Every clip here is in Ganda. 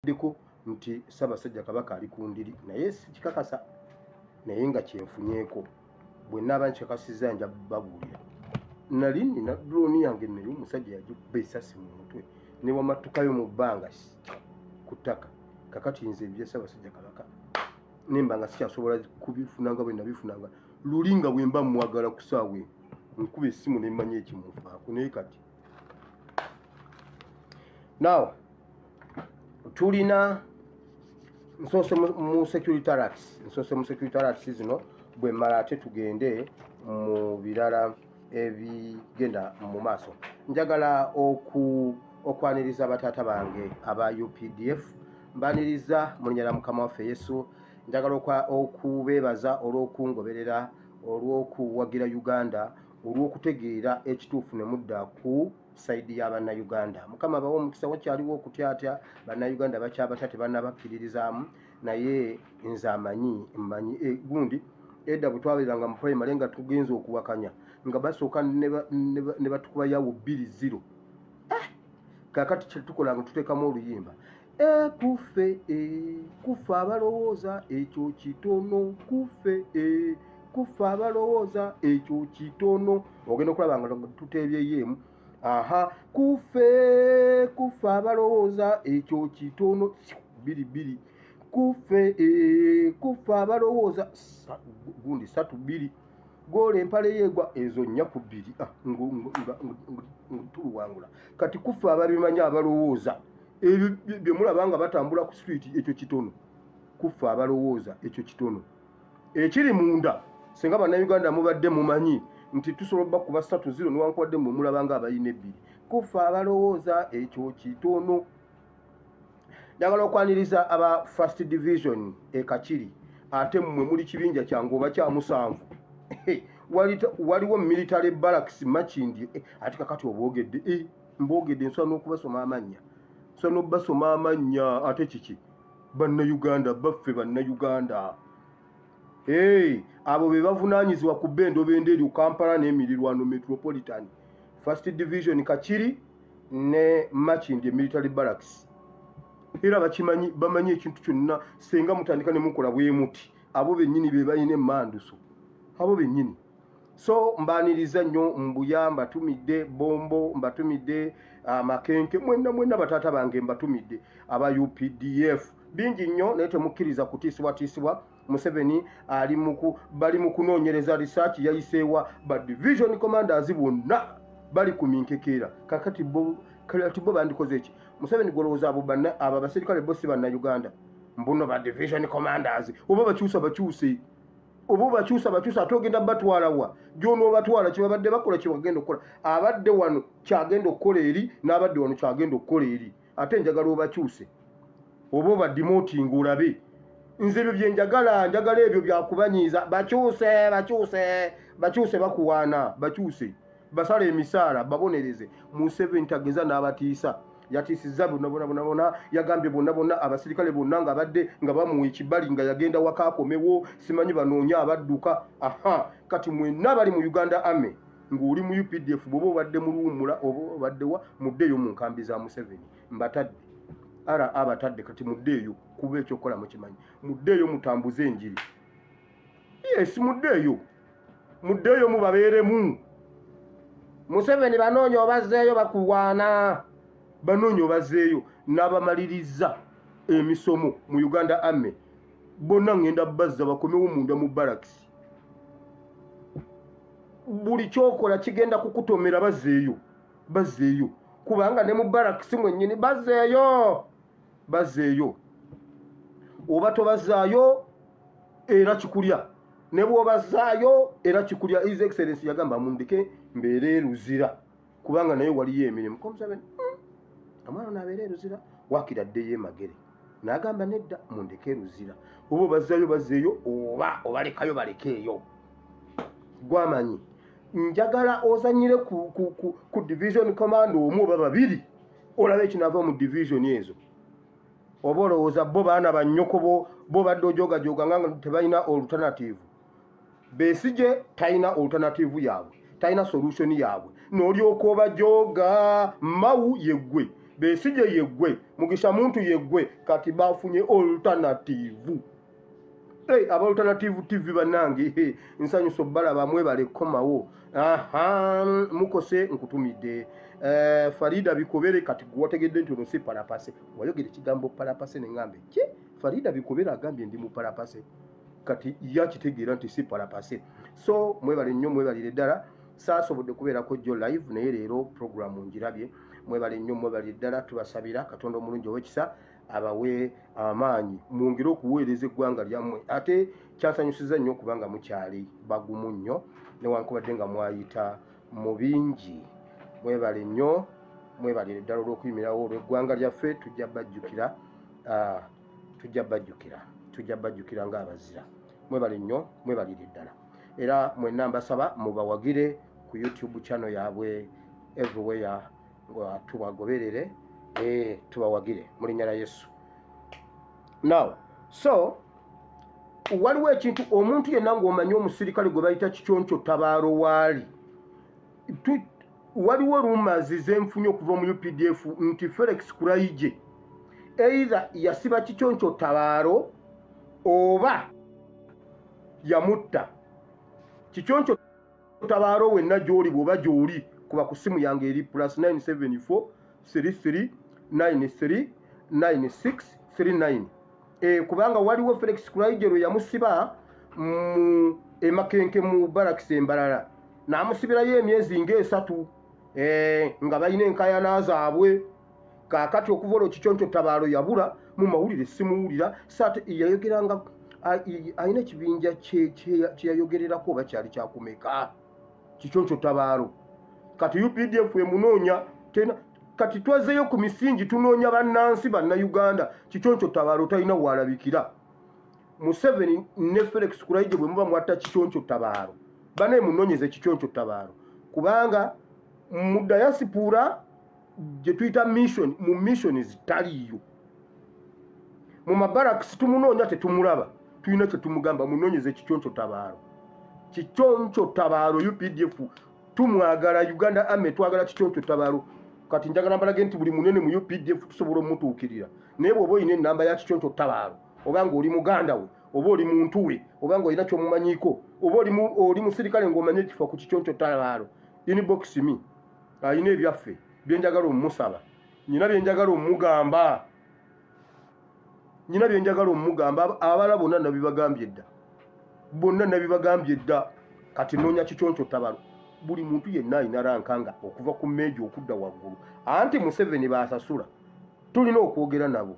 kyayogeddeko nti ssaabasajja kabaka ali ku ndiri naye sikikakasa naye nga kyenfunyeko bwenaaba nkikakasizza nja babuulira nali nina drooni yange naye omusajja yagikuba esasi mu mutwe ne wamattukayo mu bbanga ku ttaka kakati nze ebya ssaabasajja kabaka nemba nga sikyasobola kubifunanga bwe nabifunanga luli nga bwe mba mwagala ku saawa eno nkuba essimu ne mmanya ekimufaako naye kati naawa tulina nsoose mu security rats nsoose mu security rats zino bwe mala ate tugende mu birala ebigenda mu maaso njagala oku okwaniriza bataata bange aba updf mbaniriza mulinyala mukama waffe yesu njagala okubeebaza olw'okungoberera olw'okuwagira uganda olw'okutegeera ekituufu ne mudda ku saidi ya bannayuganda mukama abawa omukisa wakyaliwo okutyatya bannayuganda bakyabatya tebanabakkiririzaamu naye nze amanyi mmanyi eh, gundi edda bwe twabeeranga mu primary nga tugenza okuwakanya nga basooka ne batukuba yawo bbiri ziro eh! kakati kyetukolanga tuteekamu oluyimba ekuffe e kuffe abalowooza ekyo kitono kuffe e kuffe abalowooza ekyo kitono ogenda okulaba nga tuteebyeyo emu aha kuffe kuffe abalowooza ekyo kitono biri biri kuffe e kuffe abalowooza gundi satu biri goola empale yeegwa ezo nnya ku bbiri ah, nga tuluwangula kati kuffe ababimanyi abalowooza ebyo bye mulaba nga batambula ku street ekyo kitono kuffe abalowooza ekyo kitono ekiri munda singa bannayuganda mubadde mumanyi nti tusobola oba kuba satu ziro niwankubadde mwe mulaba nga abalina ebbiri kuffe abalowooza ekyo kitono njagala okwaniriza aba first division ekakiri ate mmwe muli kibinja kyange oba kyamusanvu waliwo military barracks makindi eh, ati kakati obwogedde eh. mboogedde nsobola n'okubasoma amannya nsobola n'okubasoma amannya ate kiki bannayuganda baffe bannayuganda hey, abo be bavunaanyizibwa ku bba endobo endeeryo kampala n'emirirwano metropolitan first division kakiri ne machindi emilitary barracks era bakimanyi bamanyi ekintu kyonna senga mutandika ne mukola bwemuti abo bennyini be balina emanduso abo bennyini so mbaniriza nnyo mbuya mbatumidde bombo mbatumidde ah, makenke mwenna mwenna bataata bange mbatumidde aba updf bingi nnyo naye temukkiriza kutiisibwatiisibwa museveni ali muku bali mu kunoonyereza risaaki yayiseewa ba division commanders bonna bali ku minkekeera kakati bo kati bo bandikoze eki museveni gwolowooza abo banna abo abaserikale bo si banna uganda mbuno ba division commanders oba bakyusa bakyuse oba obakyusa bakyusa ate ogenda batwalawa gyonoobatwala kyebabadde bakola kyebagenda okukola abadde wano kyagenda okukola eri n'abadde wano kyagenda okukola eri ate njagala obakyuse oba obadimotinga olabe nze ebyo byenjagala njagala ebyo byakubanyiiza bakyuse bakyuse bakyuse bakuwaana bakyuse basala emisaala babonereze museveni tageza n'abatiisa yatiisizza bonna bona bona bona yagambye bonna bonna abasirikale bonna nga badde nga bamuwa ekibali nga yagenda waka akomewo simanyi banoonya abadduka aha kati mwenna abali mu uganda ame ng'oli mu updf bwoba obadde mu luwummula oba obaddewa muddeeyo mu nkambi za museveni mbatadde ara abatadde kati muddeeyo kuba ekyokukola mukimanyi muddeeyo mutambuze enjiri yes muddeeyo muddeeyo mubabeeremu museveni banoonya obazzeeyo bakulwana banoonya obazzeeyo n'abamaliriza emisomo mu uganda ame bonna ngenda bazza bakomewo munda mu barakisi buli kyokola kigenda kukutomera bazzeeyo bazzeeyo kubanga ne mu barakisi mwennyini bazzeeyo bazzeeyo oba tobazaayo era kikulya ne bw'obazaayo era kikulya his excellence yagamba mundeke mbeere eruzira kubanga naye waliyo emirimu komuseveni hmm, omwana ono abeera eruzira wakira ddeyo emagere n'agamba nedda mundeke eruzira oba obazaayo bazeeyo oba obalekayo balekeeyo gwamanyi njagala ozanyire ku, ku, ku, ku division command omu oba babiri olaba ekinava mu division ezo oba olowooza bo baana banyokobo bo badde ojogajoga nga tebalina alternative besije talina alternative yaabwe talina solution yaabwe nolyoka obajoga mawu yeggwe besije yeggwe mugisha muntu yeggwe kati bafunye alternative Hey, aba alternative tv banange hey, nsanyusa obalaba mwebale kukomawo mukose nkutumidde uh, farida bikobere kati gwewategedde nti ono si palapase wayogera ekigambo palapase nengambe ki farida bikobere agambye ndi mupalapase kati yakitegeera nti si palapase so mwebale nnyo mwebalire ddala saasobodde kubeerako jjo live naye leero programu ngirabye mwebale nnyo mwebalire ddala tubasabira katonda omulungi owekisa abawe amaanyi mwongere okuweereza eggwanga lyammwe ate kyasanyusiza nnyo okubanga mukyali bagumu nnyo newankubadde nga mwayita mu bingi mwebale nnyo mwebale eddala olw'okuyimirawo olw'eggwanga lyaffe tujja bajjukira ah, tujja bajjukira tujja bajjukira ng'abazira mwebale nnyo mwebalire eddala era mwenna mbasaba mubawagire ku youtube channel yaabwe everywhere tubagoberere eh, tubawagire mu linnya lya yesu now so waliwo ekintu omuntu yenna ng'omanyi omusirikale gwe bayita kiconco tabaalo waali waliwo rumazi zenfunye okuva mu updf nti felix kuraije eitha yasiba kiconco tabaalo oba yamutta kiconco otabaalo wenna gy'oli bw'oba gy'oli kuba ku ssimu yange eri plus 974 33 93 96 39 e, kubanga waliwo felix kulaije lwe yamusiba mu emakenke mu baraks embalala n'amusibirayo emyezi ng'esatu e, nga balina enkayana zaabwe kaakati okuva olwo kiconco tabaalo yabula mu mawulire simuwulira saate yayogeranga alina ekibinja kyeyayogererako oba kyali kyakumeka kiconco tabaalo kati updf emunoonya tena kati twazeyo ku misingi tunoonya bannansi bannayuganda kiconco tabaalo talina waalabikira museveni ne felix kuraije bwe muba mwatta kiconco tabaalo banaye munonyeze kiconco tabaalo kubanga mu dayasipuura gye tuyita mission mu missions taliiyo mu mabarakisi tumunoonya tetumulaba tulina kyetumugamba munonyeze kikyonco tabaalo kikyonco tabaalo updf tumwagala uganda ame twagala kikyonco tabaalo kati njagala mbalage nti buli munene mu updf tusobola omutuukirira naye bwoba olina enamba ya kikyonco tabaalo oba nga oli muganda we oba oli muntu we oba nga olina kyomumanyiiko oba oli musirikale ngaomanye ekifo ku kikyonco tabaalo inbox me alina ebyaffe byenjagala omusaba nyina byenjagala omugamba nyina byenjagala omugamba abala bonna nabibagambye dda bonna nabibagambye dda kati noonya kiconco tabalo buli muntu yenna alina ranka nga okuva ku meeji okudda waggulu anti museveni baasasula tulina okwogera nabo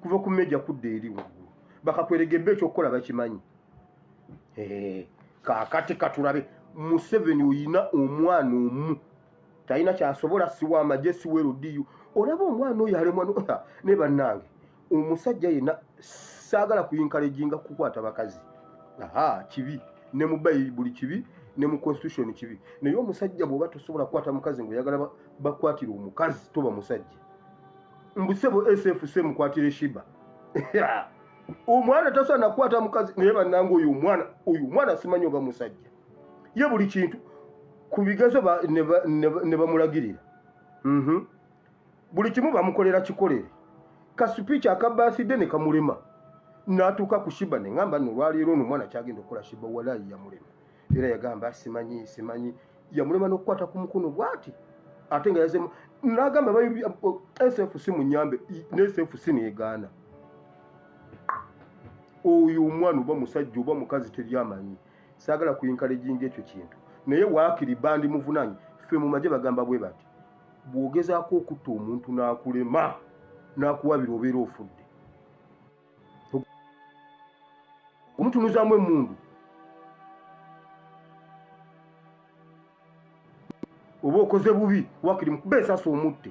kuva ku meeja kudda eri waggulu bakakweregebba ekyokukola bakimanyi eh, kakati katulabe museveni oyina omwana omu talina kyasobola siwa amagye siwa erudiyo olaba omwana oyo alemwa ne bannange omusajja yenna saagala kuyinkalejinga kukwata bakazi aha kibi ne mu bayibuli kibi ne mu constitution kibi naye omusajja bwoba tosobola kukwata mukazi ngaoyagala bakwatira omukazi toba musajja mbusebo sfc mukwatire shiba omwana tasaana kukwata mukazi naye bannanga oyo omwana oyo omwana simanyi oba musajja ye buli kintu ku bigezo ne bamulagirira mhm. buli kimu bamukolera kikolere kasipiiki akabaaside ne kamulema n'atuuka ku shiba ne ŋamba no olwaleero ono omwana kyagenda okukola shiba walayi yamulema era yagamba simanyi simanyi yamulema n'okukwata ku mukono bwati ate nga yazemu nagamba sfc munyambe ne sfc negaana oyo omwana oba musajja oba mukazi teryamanyi saagala kuyinkala ejinga ekyo kintu naye waakiri bandi muvunanyi ffe mu maje bagamba bwe bati bw'ogezaako okutta omuntu n'akulema n'akuwabira obeera ofudde omutunuzamu emundu oba okoze bubi wakiri mukuba esasi omutte